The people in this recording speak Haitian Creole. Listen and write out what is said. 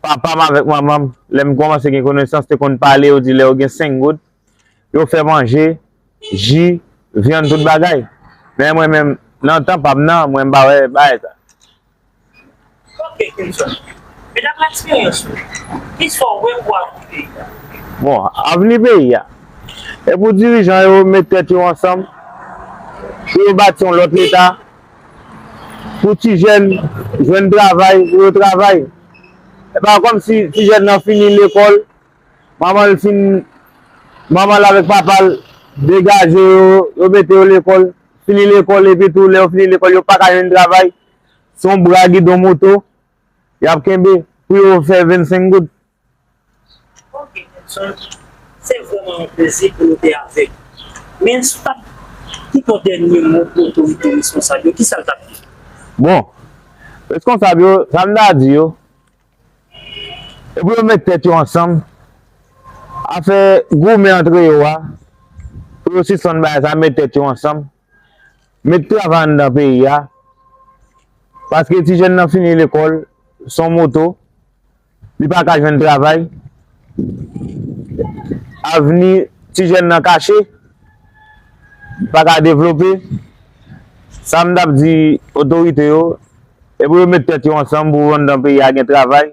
Papa m avèk manman m, lè m kòmanse gen konesans, te konn pale, yo di lè yo gen senk goud, yo fè manje, ji, vyann, tout bagay. Men mwen menm, nan tan pa m nan, mwen m pa wè bagay sa. Ok Kenson, men daprè eksperyans ou, ki sa w wè pou avni peyi a? Bon, avni peyi a? E pou dirijan yo met tèt yo ansanm, pou yo bati yon lòt leta. Pou ti jèn jwenn travay, pou yo travay. E pa kòm si ti jèn nan fini lekòl, manman l fin, manman l avèk papa l degaje yo, yo mete yo lekòl, fini lekòl epi tou lè yo fini lekòl yo pa ka jwenn travay. Se yon bra gidon moto y ap kenbe pou yo fè 25 goud. Ok Nelson, se vrèman yon plezi pou nou te avèk ou. Men si w tap ki ton dènye mo pou otorite reskonsab yo, kisa l tap ye? Bon, reskonsab yo, sa m ta di yo, se pou yo met tèt yo ansanm, afè goumen antre yo a, pou yo sispann bagay sa, met tèt yo ansanm, Met travay anndan peyi a, paske ti jèn nan fini lekòl, son moto, li pa ka jwenn travay, avni ti jèn nan kache, li pa ka devlope, sa m t ap di otorite yo, e pou yo met tèt yo ansanm pou anndan peyi a gen travay.